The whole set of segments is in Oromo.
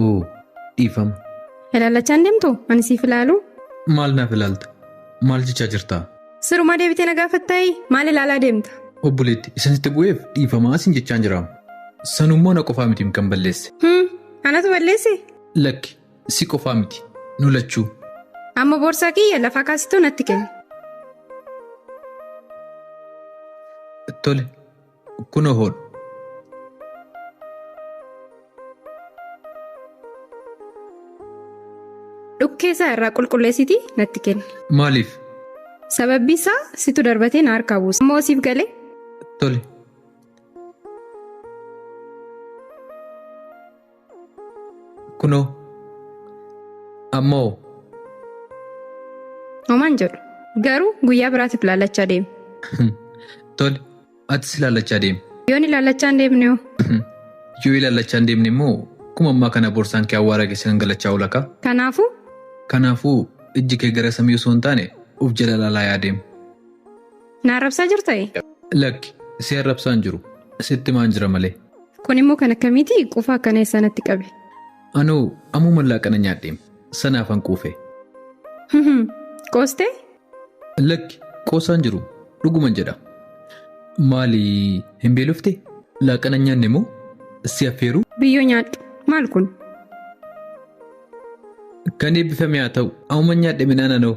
Oo, dhiifama. Ilaalachaa hin deemtu? Ani siif ilaalu. Maal naaf ilaalta? Maal jechaa jirta? Sirumaa deebitee na gaafattaayi? Maal ilaalaa deemta? Obboleetti, isinitti bu'eef dhiifamaa isin jechaan jiraam. Sanummoo na qofaa miti kan balleesse. Hmm, anatu balleesse? Lakki, si qofaa miti. Nu lachuu. Amma boorsaa kiyya lafaa kaasituu natti kenni. Tole, Kuno hodhu. Dhukkee isaa irraa qulqulleessiti natti kenni. Maaliif? Sababbi isaa situ darbatee na harkaa buuse. Ammoo siif galee? Tole. Kunoo. Ammoo. Homaan jedhu. Garuu guyyaa biraatiif laallachaa deemi. Tole, atis ilaallachaa deemi. Yoon ilaallachaa hin deemne hoo? Yoo ilaallachaa hin deemne immoo kuma ammaa kana boorsaan kee awwaara keessa gangalachaa oola kaa. Kanaafuu Kanaafuu ijji kee gara samii osoo hin taane of jala ilaalaa yaa deemu. Na arrabsaa jirtayi? Lakki, si arrabsaan jiru. Sitti maan jira malee. Kun immoo kan akkamiiti? Quufa akkana eessaa natti qabe? Anoo ammuma laaqana nyaadheem. Sanaaf an quufe. Hihim, Qoostee? Lakki, qoosaan jiru. Dhuguman jedha. Maali hin beelofte? Laaqana hin nyaanne moo? Si affeeru? Biyyoo nyaadhu. Maal kun? Kan eebbifame haa ta'u. Ammuma nyaadhe midhaan anoo.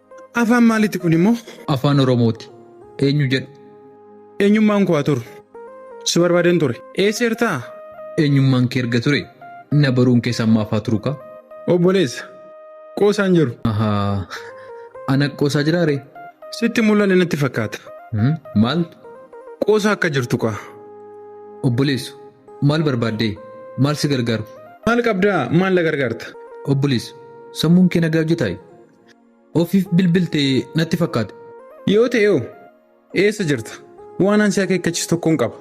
Afaan maalitti kun immoo? Afaan Oromooti. Eenyu jedhu? Eenyummaan koo haa turu. Si barbaadeen ture. Eessa jirtaa? Eenyummaan kee erga ture na baruun keessa ammaaf haa turu kaa. Obboleessa. Qoosaan jiru. Ahaa. Ana qoosaa jiraa ree? Sitti mul'anne natti fakkaata. Hmm, Maal? Qoosaa akka jirtu kaa. Obboleessu. Maal barbaaddee? Maal si gargaaru? Maal qabdaa? Maal na gargaarta? Obboleessu. Sammuun kee nagaa hojjetaayi? Ofiif bilbilte natti fakkaate. Yoo ta'e hoo eessa jirta? Waan ansi akeekkachiisu tokkoon qaba.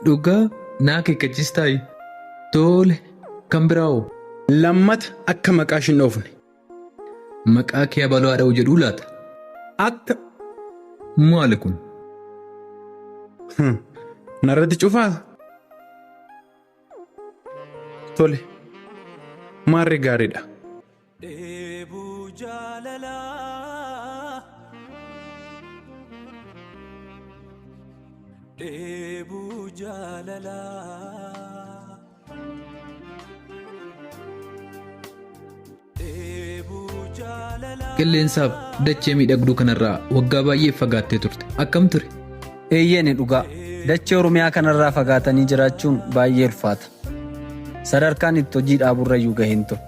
Dhugaa naa akeekkachiistaayi. Toole kan biraa hoo? Lammata akka maqaa ishin dhoofne. Maqaa kee abaloo haa dha'u jedhuu laata? Akka Maali kun? narratti cufaa? Tole maarree gaariidha. Dheebuu jaalalaa Dheebuu jaalalaa Dheebuu jaalalaa Qilleensaaf dachee miidhagduu kanarraa waggaa baay'ee fagaattee turte. Akkam ture? Eeyyeeni dhugaa. Dachee Oromiyaa kanarraa fagaatanii jiraachuun baay'ee ulfaata. Sadarkaan itti hojii dhaaburrayyuu gaheen ture.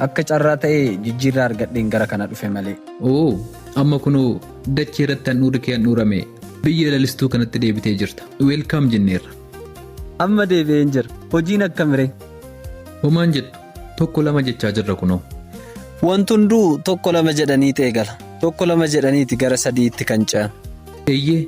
Akka carraa ta'ee jijjiirraa argadheen gara kana dhufe malee. Oo, amma kunoo dachee irratti handhuurri kee handhuurame biyya lalistuu kanatti deebitee jirta. Weelkaam jenneerra. Amma deebi'een jira. Hojiin akkamiree? Homaan jettu tokko lama jechaa jirra kunoo. Wanti hunduu tokko lama jedhaniiti eegala. Tokko lama jedhaniiti gara sadiitti kan ce'an. Eeyyee,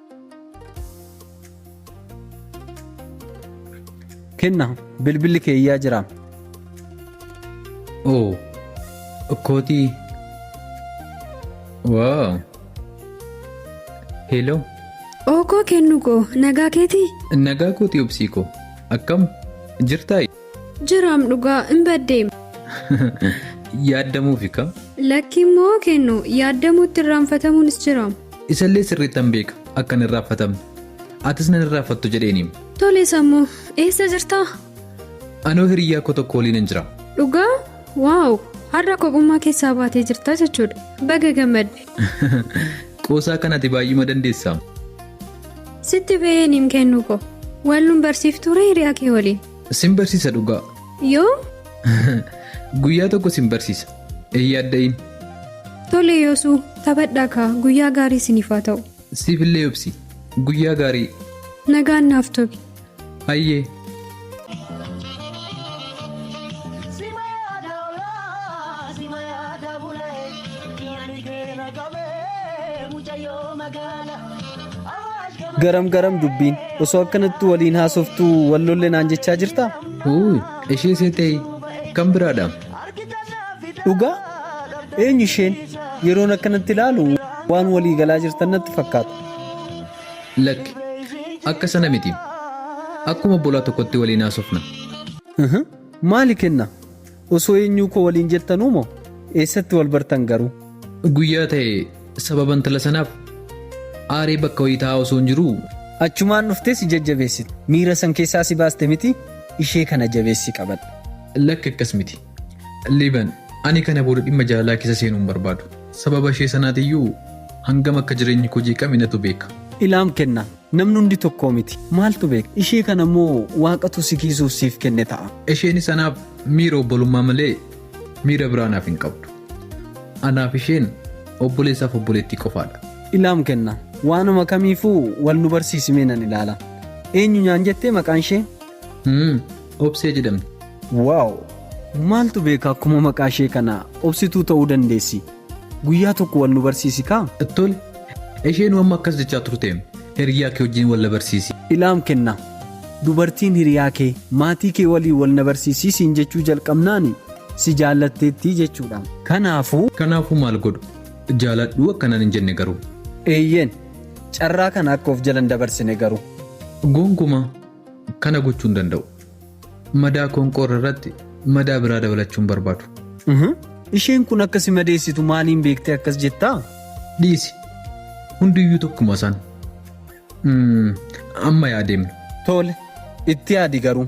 kenna bilbilli kee iyyaa jira oo okkootii waa hello Ookoo kennu koo nagaa keetii? nagaa kooti obsii koo akkam jirtaa Jiraam dhugaa hin baddeem. Yaaddamuufi ka. Lakki immoo kennu yaaddamuutti irraanfatamuunis jiraam. Isallee sirriittan beeka akka hin irraanfatamne. Atis nan irraanfattu jedheeniim. Tole sammu eessa jirtaa? Anoo hiriyyaa koo tokko waliin hin jira. Dhugaa? Waaw! Har'a kophummaa keessaa baatee jirta jechuudha. Baga gammadde. Qoosaa kan ati baay'ima dandeessaam. Sitti ba'een hin kennu ko. Wallun barsiiftuura hiriyaa kee waliin. Sin barsiisa dhugaa. Yoo Guyyaa tokko sin barsiisa. Hin yaadda'in. tole yoosuu taphadhaa kaa guyyaa gaarii isiniif haa ta'u. Siifillee obsi. Guyyaa gaarii. Nagaan naaf tobi. Hayyee. Garam garam dubbiin osoo akkanatti waliin haasoftuu wal lolle naan jechaa jirtaa? Uuy, ishee seetee kan biraadha. Dhugaa? Eenyu isheen? Yeroon akkanatti ilaalu waan walii galaa jirtan natti fakkaata. Lakki. Akka sana miti. Akkuma obbolaa tokkotti waliin haasofna. Aha. Maali kenna? Osoo eenyuu koo waliin jettanuu moo? Eessatti wal bartan garuu? Guyyaa ta'e sababa intala sanaaf aaree bakka wayii taa'aa osoo hin jiruu Achumaan dhuftee si jajjabeessite. Miira san keessaa si baaste miti ishee kana jabeessi qabadhu. lakki akkas miti. Liiban, Ani kana booda dhimma jaalalaa keessa seenuu hin barbaadu. Sababa ishee sanaatiyyuu hangam akka jireenyi koo jeeqame natu beeka. Ilaam, Kenna namni hundi tokkoo miti. Maaltu beeka? Ishee kana immoo Waaqatu si kiisuuf siif kenne ta'a. Isheenis anaaf miira obbolummaa malee miira biraa naaf hin qabdu. Anaaf isheen obboleessaaf obboleettii qofaadha. Ilaam, Kenna waanuma kamiifuu wal nu barsiisi mee nan ilaala. Eenyu nyaan jettee maqaan ishee? Hum. Obsee jedhamti. Wow! Maaltu beeka akkuma maqaa ishee kana obsituu ta'uu dandeessi. Guyyaa tokko wal nu barsiisi kaa? Tole. Isheen amma akkas jechaa turte. Hiriyaa kee wajjin wal na barsiisi. Ilaam kenna. Dubartiin hiriyaa kee maatii kee waliin wal na barsiisii siin jechuu jalqabnaani si jaallatteettii jechuudha. Kanaafuu. Kanaafuu maal godhu? Jaaladhuu akkanaan hin jenne garuu. Eeyyeen. Carraa kana akka of jala hin dabarsine garuu. Gonkumaa. Kana gochuu hin danda'u. Madaa qoonqoo irra irratti madaa biraa dabalachuu hin barbaadu. Mhm. Isheen kun akka si madeessitu maaliin beektee akkas jettaa? Dhiisi. Hundiyyuu tokkuma isaan. Mm, Amma yaa deemnu. Tole, itti yaadi garuu.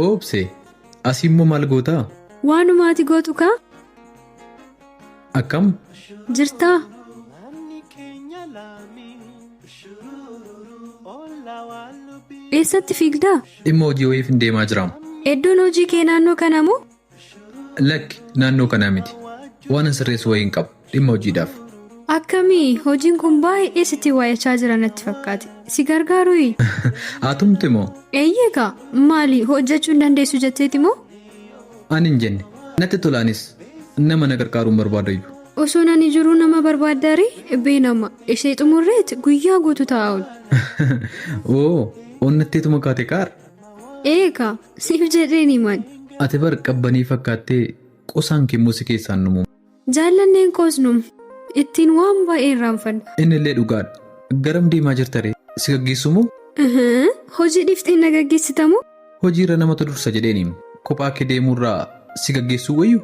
Oobse, asi immoo maal gootaa? Waanuma ati gootu kaa. Akkam? Jirtaa? Eessatti fiigdaa? Dhimma hojii wayiifin deemaa jiraam. Eddoon hojii kee naannoo kana moo? Lakki, naannoo kanaa miti. Waanan sirreessu wayii hin qabu. Dhimma hojiidhaaf. Akkami? Hojiin kun baay'ee sitti waayachaa jira natti fakkaate. Si gargaarui? Haa tumte moo? Eeyyee kaa. Maali, hojjechuu hin dandeessu jetteeti moo? Ani hin jenne. Natti tola anis. Nama na gargaaru hin barbaadayyu. Osoon ani jiruu nama barbaaddaa ree? Bee nama. Ishee xumurreet guyyaa guutuu taa'aa oolu. Oo, onnatteetuma kaate kaar. Eegaa siif jedheen himan. Ati bar qabbanii fakkaattee qosaan kee immoo si keessaan numu. Jaallanneen koos num. Ittiin waan baay'ee irraanfadha. Innillee dhugaadha. Garam deemaa jirta ree? Si gaggeessuu moo? Ihii, hojii dhiiftee na gaggeessita moo? Hojiirra namatu dursa jedheeni. Kophaa kee deemuurra si gaggeessuu wayyu?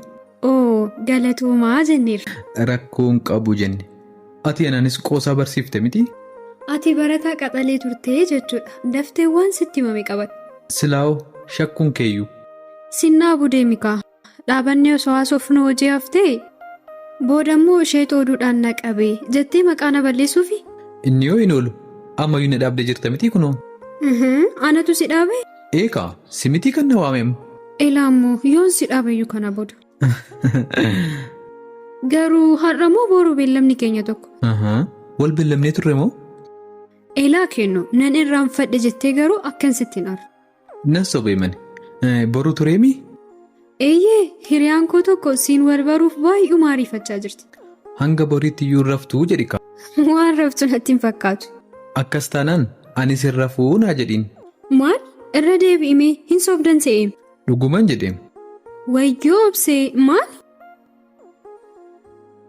Oo, galatoomaa jenneerra. Rakkoo hin qabu jenne. Ati anaanis qoosaa barsiifte miti? Ati barataa qaxalee turte jechuudha. Daftee waan sitti himame qabadhu. Silaawoo shakkuun keeyyuu. Sinnaa budee mikaa. Dhaabannee osoo haasofnu hojii haftee? Boodammoo isheetu oduudhaan na qabe jettee maqaa na balleessuufi? Inni yoo hin oolu ammayyuu na dhaabdee jirta mitii kunoo. Uhum, Anatu si dhaabe? Eekaa simitii kan na waamem. Elaammoo yoon si dhaabeyyuu kana booda. Garuu har'a moo boru beellamni keenya tokko? Ahaa. Wal beellamnee turre moo? Elaa kennu nan irraanfadhe jettee garuu akkan sitti hin arre. Nan sobee mani. Eh, Boru tureemi? Eeyyee hiriyaan koo tokko siin wal baruuf baay'uma ariifachaa jirti. Hanga boriitti iyyuu hin raftuu jedhi kaa. Waan raftu natti hin fakkaatu. Akkas taanaan anis hin rafuu naa jedhiin. Maal? Irra deebi'imee hin sobdan se'eem. Dhuguman jedheem. Wayyoo obsee maali?